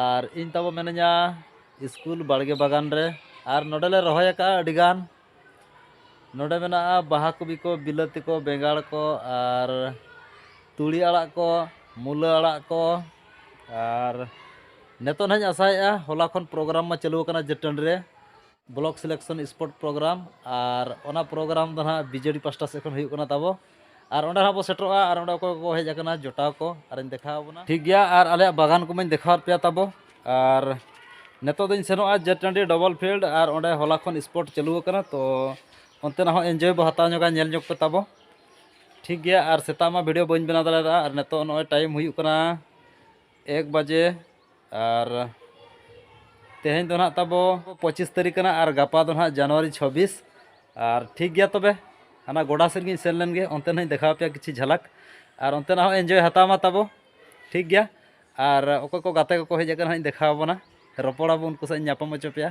ᱟᱨ ᱤᱧ ᱛᱟᱵᱚ ᱢᱮᱱᱟᱹᱧᱟ ᱥᱠᱩᱞ ᱵᱟᱲᱜᱮ ᱵᱟᱜᱟᱱ ᱨᱮ ᱟᱨ ᱱᱚᱰᱮ ᱞᱮ ᱨᱚᱦᱚᱭ ᱟᱠᱟᱫᱼᱟ ᱟᱹᱰᱤ ᱜᱟᱱ ᱱᱚᱰᱮ ᱢᱮᱱᱟᱜᱼᱟ ᱵᱟᱦᱟ ᱠᱚᱯᱤ ᱠᱚ ᱵᱤᱞᱟᱹᱛᱤ ᱠᱚ ᱵᱮᱸᱜᱟᱲ ᱠᱚ ᱟᱨ ᱛᱩᱲᱤ ᱟᱲᱟᱜ ᱠᱚ ᱢᱩᱞᱟᱹ ᱟᱲᱟᱜ ᱠᱚ ᱟᱨ ᱱᱤᱛᱚᱜ ᱱᱟᱦᱟᱜ ᱤᱧ ᱟᱥᱟᱭᱮᱫᱼᱟ ᱦᱚᱞᱟ ᱠᱷᱚᱱ ᱯᱨᱳᱜᱨᱟᱢ ᱢᱟ ᱪᱟᱹᱞᱩ ᱟᱠᱟᱱᱟ ᱡᱟᱹᱛ ᱴᱟᱺᱰᱤ ᱨᱮ ᱵᱞᱚᱠ ᱥᱤᱞᱮᱠᱥᱚᱱ ᱥᱯᱳᱨᱴ ᱯᱨᱳᱜᱨᱟᱢ ᱟᱨ ᱚᱱᱟ ᱯᱨᱳᱜᱨᱟᱢ ᱫᱚ ᱱᱟᱦᱟᱜ ᱵᱤᱡᱮᱰᱤ ᱯᱟᱥᱴᱟ ᱥᱮᱫ ᱠᱷᱚᱱ ᱦᱩᱭᱩᱜ ᱠᱟᱱᱟ ᱛᱟᱵᱚ ᱟᱨ ᱚᱸᱰᱮ ᱦᱟᱸᱜ ᱵᱚ ᱥᱮᱴᱮᱨᱚᱜᱼᱟ ᱟᱨ ᱚᱸᱰᱮ ᱚᱠᱚᱭ ᱠᱚᱠᱚ ᱦᱮᱡ ᱟᱠᱟᱱᱟ ᱡᱚᱴᱟᱣ ᱠᱚ ᱟᱨᱤᱧ ᱫᱮᱠᱷᱟᱣ ᱟᱵᱚᱱᱟ ᱴᱷᱤᱠ ᱜᱮᱭᱟ ᱟᱨ ᱟᱞᱮᱭᱟᱜ ᱵᱟᱜᱟᱱ ᱠᱚᱢᱟᱧ ᱫᱮᱠᱷᱟᱣᱟᱫ ᱯᱮᱭᱟ ᱛᱟᱵᱚ ᱟᱨ ᱱᱤᱛᱚᱜ ᱫᱚᱧ ᱥᱮᱱᱚᱜᱼᱟ ᱡᱮ ᱴᱟᱺᱰᱤ ᱰᱚᱵᱚᱞ ᱯᱷᱤᱞᱰ ᱟᱨ ᱚᱸᱰᱮ ᱦᱚᱞᱟ ᱠᱷᱚᱱ ᱥᱯᱳᱨᱴ ᱪᱟᱹᱞᱩ ᱟᱠᱟᱱᱟ ᱛᱚ ᱚᱱᱛᱮᱱᱟᱜ ᱦᱚᱸ ᱮᱱᱡᱚᱭ ᱵᱚ ᱦᱟᱛᱟᱣ ᱧᱚᱜᱟ ᱧᱮᱞ ᱧᱚᱜ ᱯᱮ ᱛᱟᱵᱚ ᱴᱷᱤᱠ ᱜᱮᱭᱟ ᱟᱨ ᱥᱮᱛᱟᱜ ᱢᱟ ᱵᱷᱤᱰᱤᱭᱳ ᱵᱟᱹᱧ ᱵᱮᱱᱟᱣ ᱫᱟᱲᱮᱭᱟᱫᱟ ᱟᱨ ᱱᱤᱛᱚᱜ ᱱᱚᱜᱼᱚᱭ ᱴᱟᱭᱤᱢ ᱦᱩᱭᱩᱜ ᱠᱟᱱᱟ ᱮᱠ ᱵᱟᱡᱮ ᱟᱨ ᱛᱮᱦᱮᱧ ᱫᱚ ᱱᱟᱦᱟᱜ ᱛᱟᱵᱚ ᱯᱚᱸᱪᱤᱥ ᱛᱟᱹᱨᱤᱠᱷ ᱠᱟᱱᱟ ᱟᱨ ᱜᱟᱯᱟ ᱫᱚ ᱱᱟᱦᱟᱜ ᱡᱟᱱᱩᱣᱟᱨᱤ ᱪᱷᱚᱵᱵᱤᱥ ᱟᱨ ᱴᱷᱤᱠ ᱜᱮᱭᱟ ᱛᱚᱵᱮ ᱦᱟᱱᱟ ᱜᱚᱰᱟ ᱥᱮᱫ ᱜᱤᱧ ᱥᱮᱱ ᱞᱮᱱ ᱜᱮ ᱚᱱᱛᱮ ᱱᱟᱦᱟᱜ ᱤᱧ ᱫᱮᱠᱷᱟᱣ ᱯᱮᱭᱟ ᱠᱤᱪᱷᱩ ᱡᱷᱟᱞᱟᱠ ᱟᱨ ᱚᱱᱛᱮ ᱱᱟᱦᱟᱜ ᱮᱱᱡᱚᱭ ᱦᱟᱛᱟᱣ ᱢᱟ ᱛᱟᱵᱚ ᱴᱷᱤᱠ ᱜᱮᱭᱟ ᱟᱨ ᱚᱠᱚᱭ ᱠᱚ ᱜᱟᱛᱮ ᱠᱚᱠᱚ ᱦᱮᱡ ᱟᱠᱟᱱᱟ ᱱᱟᱦᱟᱜ ᱤᱧ ᱫᱮᱠᱷᱟᱣ ᱟᱵᱚᱱᱟ ᱨᱚᱯᱚᱲ ᱟᱵᱚᱱ ᱩᱱᱠᱩ ᱥᱟᱞᱟᱜ ᱤᱧ ᱧᱟᱯᱟᱢ ᱦᱚᱪᱚ ᱯᱮᱭᱟ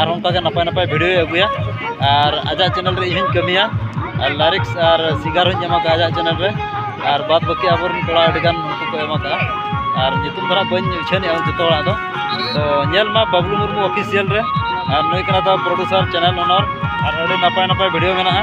ᱟᱨ ᱚᱱᱠᱟᱜᱮ ᱱᱟᱯᱟᱭ ᱱᱟᱯᱟᱭ ᱵᱷᱤᱰᱭᱳᱭ ᱟᱹᱜᱩᱭᱟ ᱟᱨ ᱟᱡᱟᱜ ᱪᱮᱱᱮᱞ ᱨᱮ ᱤᱧᱦᱚᱧ ᱠᱟᱹᱢᱤᱭᱟ ᱟᱨ ᱞᱟᱭᱨᱤᱠᱥ ᱟᱨ ᱥᱤᱝᱜᱟᱨ ᱦᱚᱧ ᱮᱢᱟ ᱠᱚᱣᱟ ᱟᱡᱟᱜ ᱪᱮᱱᱮᱞ ᱨᱮ ᱟᱨ ᱵᱟᱫᱽ ᱵᱟᱹᱠᱤ ᱟᱵᱚᱨᱮᱱ ᱠᱚᱲᱟ ᱟᱹᱰᱤᱜᱟᱱ ᱩᱱᱠᱩ ᱠᱚ ᱮᱢ ᱠᱟᱜᱼᱟ ᱟᱨ ᱧᱩᱛᱩᱢ ᱫᱚ ᱦᱟᱸᱜ ᱵᱟᱹᱧ ᱩᱪᱷᱟᱹᱱᱮᱜᱼᱟ ᱡᱚᱛᱚ ᱦᱚᱲᱟᱜ ᱫᱚ ᱛᱚ ᱧᱮᱞ ᱢᱟ ᱵᱟᱹᱵᱽᱞᱩ ᱢᱩᱨᱢᱩ ᱚᱯᱷᱤᱥᱤᱭᱟᱞ ᱨᱮ ᱟᱨ ᱱᱩᱭ ᱠᱟᱱᱟ ᱛᱟᱵᱚᱱ ᱯᱨᱚᱰᱩᱥᱟᱨ ᱪᱮᱱᱮᱞ ᱚᱱᱟᱨ ᱟᱨ ᱟᱹᱰᱤ ᱱᱟᱯᱟᱭ ᱱᱟᱯᱟᱭ ᱵᱷᱤᱰᱭᱳ ᱢᱮᱱᱟᱜᱼᱟ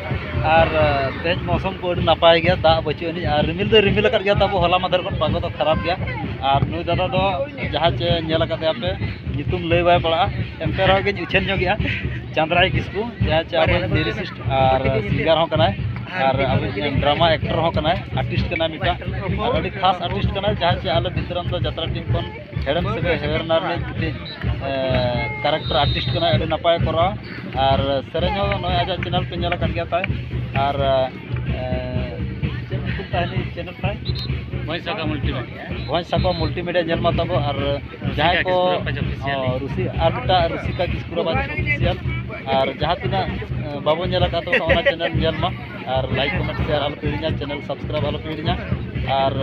ᱟᱨ ᱛᱮᱦᱮᱧ ᱢᱳᱥᱩᱢ ᱠᱚ ᱟᱹᱰᱤ ᱱᱟᱯᱟᱭ ᱜᱮᱭᱟ ᱫᱟᱜ ᱵᱟᱹᱪᱩᱜ ᱟᱹᱱᱤᱡ ᱟᱨ ᱨᱤᱢᱤᱞ ᱫᱚᱭ ᱨᱤᱢᱤᱞ ᱟᱠᱟᱫ ᱜᱮᱭᱟ ᱛᱟᱵᱚ ᱦᱚᱞᱟ ᱢᱟᱫᱷᱮᱨ ᱠᱷᱚᱱ ᱯᱟᱜᱚ ᱫᱚ ᱠᱷᱟᱨᱟᱯ ᱜᱮᱭᱟ ᱟᱨ ᱱᱩᱭ ᱫᱟᱫᱟ ᱫᱚ ᱡᱟᱦᱟᱸ ᱪᱮ ᱧᱮᱞ ᱟᱠᱟᱫᱮᱭᱟ ᱯᱮ ᱧᱩᱛᱩᱢ ᱞᱟᱹᱭ ᱵᱟᱭ ᱯᱟᱲᱟᱜᱼᱟ ᱮᱱᱛᱮ ᱨᱮᱦᱚᱸ ᱜᱮᱧ ᱩᱪᱷᱟᱹᱱ ᱧᱚᱜᱮᱜᱼᱟ ᱪᱟᱸᱫᱽᱨᱟᱭ ᱠᱤᱥᱠᱩ ᱡᱟᱦᱟᱸᱭ ᱪᱮ ᱟᱵᱚᱭᱤᱡ ᱞᱤᱨᱤᱥᱤᱥᱴ ᱟᱨ ᱥᱤᱝᱜᱟᱨ ᱦᱚᱸ ᱠᱟᱱᱟᱭ ᱟᱨ ᱟᱵᱚᱭᱤᱡ ᱰᱨᱟᱢᱟ ᱮᱠᱴᱚᱨ ᱦᱚᱸ ᱠᱟᱱᱟᱭ ᱟᱨᱴᱤᱥᱴ ᱠᱟᱱᱟᱭ ᱢᱤᱫᱴᱟᱝ ᱟᱨ ᱟᱹᱰᱤ ᱠᱷᱟᱥ ᱟᱨᱴᱤᱥᱴ ᱠᱟᱱᱟᱭ ᱡᱟᱦᱟᱸᱭ ᱪᱮ ᱟᱞᱮ ᱵᱤᱥᱨᱟᱢᱯᱩᱨ ᱡᱟᱛᱨᱟ ᱴᱤᱢ ᱠᱷᱚᱱ ᱦᱮᱲᱮᱢ ᱥᱟᱹᱜᱟᱹᱭ ᱦᱮᱣᱮᱨᱱᱟ ᱨᱤᱱᱤᱡ ᱢᱤᱫᱴᱤᱡ ᱠᱮᱨᱮᱠᱴᱟᱨ ᱟᱨᱴᱤᱥᱴ ᱠᱟᱱᱟᱭ ᱟᱹᱰᱤ ᱱᱟᱯᱟᱭᱮ ᱠᱚᱨᱟᱣᱟ ᱟᱨ ᱥᱮᱨᱮᱧ ᱦᱚᱸ ᱱᱚᱜᱼᱚᱸᱭ ᱟᱡᱟᱜ ᱪᱮᱱᱮᱞ ᱯᱮ ᱧᱮᱞ ᱟᱠᱟᱫ ᱜᱮᱭᱟ ᱛᱟᱭ ᱟᱨ ᱪᱮᱫ ᱧᱩᱛᱩᱢ ᱛᱟᱭ ᱦᱟᱹᱱᱤ ᱪᱮᱱᱮᱞ ᱛᱟᱭ ᱵᱷᱚᱸᱡᱽ ᱥᱟᱠᱣᱟ ᱢᱩᱞᱴᱤ ᱢᱤᱰᱤᱭᱟ ᱵᱷᱚᱸᱡᱽ ᱥᱟᱠᱣᱟ ᱢᱩᱞᱴᱤ ᱢᱤᱰᱤᱭᱟ ᱧᱮᱞ ᱢᱟ ᱛᱟᱵᱚ ᱟᱨ ᱡᱟᱦᱟᱸᱭ ᱠᱚ ᱨᱩᱥᱤ ᱟᱨ ᱢᱤᱫᱴᱟᱜ ᱨᱩᱥᱤᱠᱟ ᱠᱤᱥᱠᱩ ᱨᱟᱵᱟᱡᱽ ᱚᱯᱷᱤᱥᱤᱭᱟᱞ ᱟᱨ ᱡᱟᱦᱟᱸ ᱛᱤᱱᱟᱹᱜ ᱵᱟᱵᱚ ᱧᱮᱞ ᱟᱠᱟᱫ ᱛᱟᱵᱚᱱᱟ ᱚᱱᱟ ᱪᱮᱱᱮᱞ ᱧᱮᱞ ᱢᱟ ᱟᱨ ᱞᱟᱭᱤᱠ ᱠᱚᱢᱮᱱᱴ ᱥᱮᱭᱟᱨ ᱟᱞᱚᱯᱮ ᱦᱤᱲᱤᱧᱟ ᱪᱮᱱᱮᱞ ᱥᱟᱵᱥᱠᱨᱟᱭᱤᱵᱽ ᱟᱞᱚᱯᱮ ᱦᱤᱲᱤᱧᱟ ᱟᱨ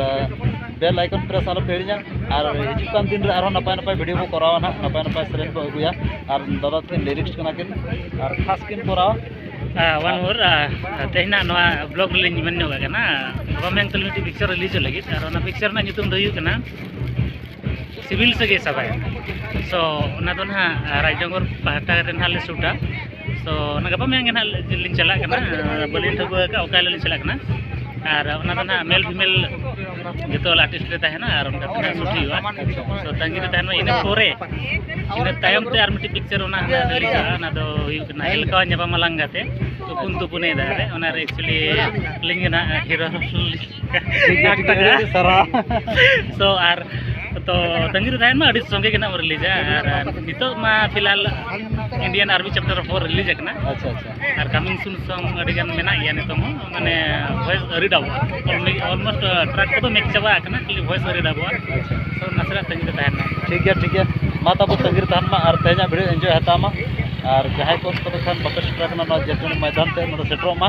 ᱵᱮᱞ ᱟᱭᱠᱚᱱ ᱯᱨᱮᱥ ᱟᱞᱚᱯᱮ ᱦᱤᱲᱤᱧᱟ ᱟᱨ ᱦᱤᱡᱩᱜ ᱠᱟᱱ ᱫᱤᱱ ᱨᱮ ᱟᱨᱦᱚᱸ ᱱᱟᱯᱟᱭ ᱱᱟᱯᱟᱭ ᱵᱷᱤᱰᱤᱭᱳ ᱵᱚᱱ ᱠᱚᱨᱟᱣᱟ ᱱᱟᱦᱟᱜ ᱱᱟᱯᱟᱭ ᱱᱟᱯᱟᱭ ᱥᱮᱨᱮᱧ ᱵᱚᱱ ᱟᱹᱜᱩᱭᱟ ᱟᱨ ᱫᱟᱫᱟ ᱛᱟᱹᱠᱤᱱ ᱞᱤᱨᱤᱠᱥ ᱠᱟᱱᱟ ᱠᱤᱱ ᱟᱨ ᱠᱷᱟᱥ ᱠᱤᱱ ᱠᱚᱨᱟᱣᱟ ᱚᱣᱟᱱ ᱢᱳᱨ ᱛᱮᱦᱮᱧᱟᱜ ᱱᱚᱣᱟ ᱵᱞᱚᱜ ᱨᱮᱞᱤᱧ ᱢᱮᱱ ᱧᱚᱜ ᱠᱟᱱᱟ ᱜᱟᱯᱟ ᱢᱮᱭᱟᱝ ᱛᱟᱹᱞᱤᱧ ᱢᱤᱫᱴᱤᱡ ᱯᱤᱠᱪᱟᱨ ᱨᱤᱞᱤᱡᱚᱜ ᱞᱟᱹᱜᱤᱫ ᱟᱨ ᱚᱱᱟ ᱯᱤᱠᱪᱟᱨ ᱨᱮᱱᱟᱜ ᱧᱩᱛᱩᱢ ᱫᱚ ᱦᱩᱭᱩᱜ ᱠᱟᱱᱟ ᱥᱤᱵᱤᱞ ᱥᱟᱹᱜᱟᱹᱭ ᱥᱟᱵᱟᱭ ᱥᱚ ᱚᱱᱟ ᱫᱚ ᱱᱟᱦᱟᱜ ᱨᱟᱡᱽᱱᱚᱜᱚᱨ ᱯᱟᱦᱴᱟ ᱨᱮ ᱱᱟᱦᱟᱜ ᱞᱮ ᱥᱩᱴᱟ ᱛᱚ ᱚᱱᱟ ᱜᱟᱯᱟ ᱢᱮᱭᱟᱝ ᱜᱮ ᱱᱟᱦᱟᱜ ᱞᱤᱧ ᱪᱟᱞᱟᱜ ᱠᱟᱱᱟ ᱵᱟᱹᱞᱤᱧ ᱴᱷᱟᱹᱣᱠᱟᱹ ᱟᱠᱟᱫ ᱚᱠᱟ ᱦᱤᱞᱳᱜ ᱞᱤᱧ ᱪᱟᱞᱟᱜ ᱠᱟᱱᱟ ᱟᱨ ᱚᱱᱟ ᱫᱚ ᱱᱟᱦᱟᱜ ᱢᱮᱞ ᱯᱷᱤᱢᱮᱞ ᱡᱚᱛᱚ ᱦᱚᱲ ᱟᱨᱴᱤᱥᱴ ᱞᱮ ᱛᱟᱦᱮᱱᱟ ᱟᱨ ᱚᱱᱠᱟ ᱛᱮ ᱱᱟᱦᱟᱜ ᱥᱩᱴ ᱦᱩᱭᱩᱜᱼᱟ ᱛᱚ ᱛᱟᱺᱜᱤ ᱨᱮ ᱛᱟᱦᱮᱱ ᱢᱟ ᱤᱱᱟᱹ ᱯᱚᱨᱮ ᱤᱱᱟᱹ ᱛᱟᱭᱚᱢ ᱛᱮ ᱟᱨ ᱢᱤᱫᱴᱤᱡ ᱯᱤᱠᱪᱟᱨ ᱚᱱᱟ ᱦᱟᱸᱜ ᱨᱤᱞᱤᱡᱚᱜᱼᱟ ᱚᱱᱟ ᱫᱚ ᱦᱩᱭᱩᱜ ᱠᱟᱱᱟ ᱮᱞᱠᱟᱣᱟ ᱧᱟᱯᱟᱢᱟ ᱞᱟᱝᱜᱟ ᱛᱮ ᱛᱩᱯᱩᱱ ᱛᱩᱯᱩᱱᱮ ᱫᱟᱜ ᱨᱮ ᱚᱱᱟᱨᱮ ᱮᱠᱪᱩᱭᱮᱞᱤ ᱟᱹᱞᱤᱧ ᱜᱮ ᱱᱟᱦᱟᱜ ᱦᱤᱨᱳ ᱛᱚ ᱟᱨ ᱛᱚ ᱛᱟᱺᱜᱤ ᱨᱮ ᱛᱟᱦᱮᱱ ᱢᱟ ᱟᱹᱰᱤ ᱥᱚᱸᱜᱮ ᱜᱮ ᱱᱟᱜ ᱨᱤᱞᱤᱡᱟ ᱟᱨ ᱱᱤᱛᱚᱜ ᱢᱟ ᱯᱷᱤᱞᱦᱟᱞ Indian army chapter four release ᱟᱠᱟᱱᱟ ᱟᱪᱪᱷᱟ ᱟᱪᱪᱷᱟ ᱟᱨ ᱠᱟᱢᱤᱝ ᱥᱩᱱ ᱥᱚᱝ ᱟᱹᱰᱤ ᱜᱟᱱ ᱢᱮᱱᱟᱜ ᱜᱮᱭᱟ ᱱᱤᱛᱚᱜ ᱦᱚᱸ ᱢᱟᱱᱮ ᱵᱷᱚᱭᱮᱥ ᱟᱹᱣᱨᱤ ᱰᱟᱵᱚᱜᱼᱟ ᱚᱞᱢᱳᱥᱴ ᱴᱨᱟᱠ ᱠᱚᱫᱚ ᱢᱮᱠ ᱪᱟᱵᱟ ᱟᱠᱟᱱᱟ ᱠᱷᱟᱹᱞᱤ ᱵᱷᱚᱭᱮᱥ ᱟᱹᱣᱨᱤ ᱰᱟᱵᱚᱜᱼᱟ ᱟᱪᱪᱷᱟ ᱛᱚ ᱱᱟᱥᱮᱱᱟᱜ ᱛᱟᱺᱜᱤ ᱨᱮ ᱛᱟᱦᱮᱱ ᱢᱟ ᱴᱷᱤᱠ ᱜᱮᱭᱟ ᱴᱷᱤᱠ ᱜᱮᱭᱟ ᱢᱟ ᱛᱟᱵᱚ ᱛᱟᱺᱜᱤ ᱨᱮ ᱛᱟᱦᱮᱱ ᱢᱟ ᱟᱨ ᱛᱮᱦᱮᱧᱟᱜ ᱵᱷᱤᱰᱤᱭᱳ ᱮᱱᱡᱚᱭ ᱦᱟᱛᱟᱣ ᱢᱟ ᱟᱨ ᱡᱟᱦᱟᱸᱭ ᱠᱚ ᱛᱚᱵᱮ ᱠᱷᱟᱱ ᱵᱟᱯᱮ ᱥᱮᱴᱮᱨ ᱟᱠᱟᱱᱟ ᱱᱚᱣᱟ ᱡᱮᱛᱩᱱ ᱢᱚᱭᱫᱟᱱ ᱛᱮ ᱱᱚᱰᱮ ᱥᱮᱴᱮᱨᱚᱜ ᱢᱟ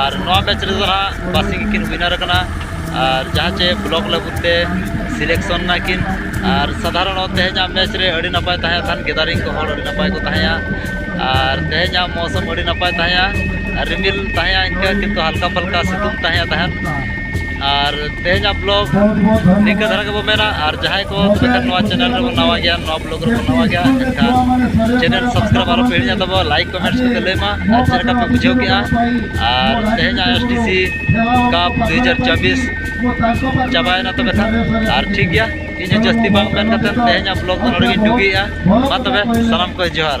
ᱟᱨ ᱱᱚᱣᱟ ᱢᱮᱪ ᱨᱮᱫᱚ ᱦᱟᱸᱜ ᱵᱟᱥᱤ ᱜᱮᱠᱤᱱ ᱩᱭᱱᱟᱨ ᱟᱠᱟᱱᱟ ᱟᱨ ᱡᱟᱦᱟᱸ ᱪᱮ ᱵᱞᱚᱠ ᱞᱮᱵᱮᱞ ᱛᱮ ᱥᱤᱞᱮᱠᱥᱚᱱ ᱮᱱᱟ ᱠᱤᱱ ᱟᱨ ᱥᱟᱫᱷᱟᱨᱚᱱᱚᱛ ᱛᱮᱦᱮᱧᱟᱜ ᱢᱮᱪ ᱨᱮ ᱟᱹᱰᱤ ᱱᱟᱯᱟᱭ ᱛᱟᱦᱮᱸ ᱠᱟᱱ ᱜᱮᱫᱟᱨᱤᱝ ᱠᱚ ᱦᱚᱲ ᱟᱹᱰᱤ ᱱᱟᱯᱟᱭ ᱠᱚ ᱛᱟᱦᱮᱸᱭᱟ ᱟᱨ ᱛᱮᱦᱮᱧᱟᱜ ᱢᱳᱣᱥᱚᱢ ᱟᱹᱰᱤ ᱱᱟᱯᱟᱭ ᱛᱟᱦᱮᱸᱭᱟ ᱟᱨ ᱨᱤᱢᱤᱞ ᱛᱟᱦᱮᱸᱭᱟ ᱤᱱᱠᱟᱹ ᱠᱤᱱᱛᱩ ᱦᱟᱞᱠᱟ ᱯᱟᱞᱠᱟ ᱥᱤᱛᱩᱝ ᱛᱟᱦᱮᱸᱭᱟ ᱛᱟᱦᱮᱸᱫ ᱟᱨ ᱛᱮᱦᱮᱧᱟᱜ ᱵᱞᱚᱜ ᱱᱤᱝᱠᱟᱹ ᱫᱷᱟᱨᱟ ᱜᱮᱵᱚ ᱢᱮᱱᱟ ᱟᱨ ᱡᱟᱦᱟᱸᱭ ᱠᱚ ᱛᱚᱵᱮ ᱠᱷᱟᱱ ᱱᱚᱣᱟ ᱪᱮᱱᱮᱞ ᱨᱮᱵᱚ ᱱᱟᱣᱟ ᱜᱮᱭᱟ ᱱᱚᱣᱟ ᱵᱞᱚᱜ ᱨᱮᱵᱚ ᱱᱟᱣᱟ ᱜᱮᱭᱟ ᱮᱱᱠᱷᱟᱱ ᱪᱮᱱᱮᱞ ᱥᱟᱵᱥᱠᱨᱟᱭᱤᱵ ᱟᱞᱚ ᱯᱮ ᱦᱤᱲᱤᱧᱟ ᱛᱟᱵᱚ ᱞᱟᱭᱤᱠ ᱠᱚᱢᱮᱱᱴ ᱠᱚᱯᱮ ᱞᱟᱹᱭ ᱢᱟ ᱟᱨ ᱪᱮᱫ ᱞᱮᱠᱟ ᱯᱮ ᱵᱩᱡᱷᱟᱹᱣ ᱠᱮᱜᱼᱟ ᱟᱨ ᱛᱮᱦᱮᱧᱟᱜ ᱮᱥ ᱴᱤ ᱥᱤ ᱠᱟᱯ ᱫᱩ ᱦᱟᱡᱟᱨ ᱪᱚᱵᱵᱤᱥ ᱪᱟᱵᱟᱭᱮᱱᱟ ᱛᱚᱵᱮ ᱠᱷᱟᱱ ᱟᱨ ᱴᱷᱤᱠ ᱜᱮᱭᱟ ᱤᱧ ᱡᱟᱹᱥᱛᱤ ᱵᱟᱝ ᱢᱮᱱ ᱠᱟᱛᱮ ᱛᱮᱦᱮᱧᱟᱜ ᱵᱞᱚᱜ ᱫᱚ ᱱᱚᱰᱮ ᱜᱤᱧ ᱰᱩᱜᱤᱭᱮᱜᱼᱟ ᱢᱟ ᱛᱚᱵᱮ ᱥᱟᱱᱟᱢ ᱠᱚ ᱡᱚᱦᱟᱨ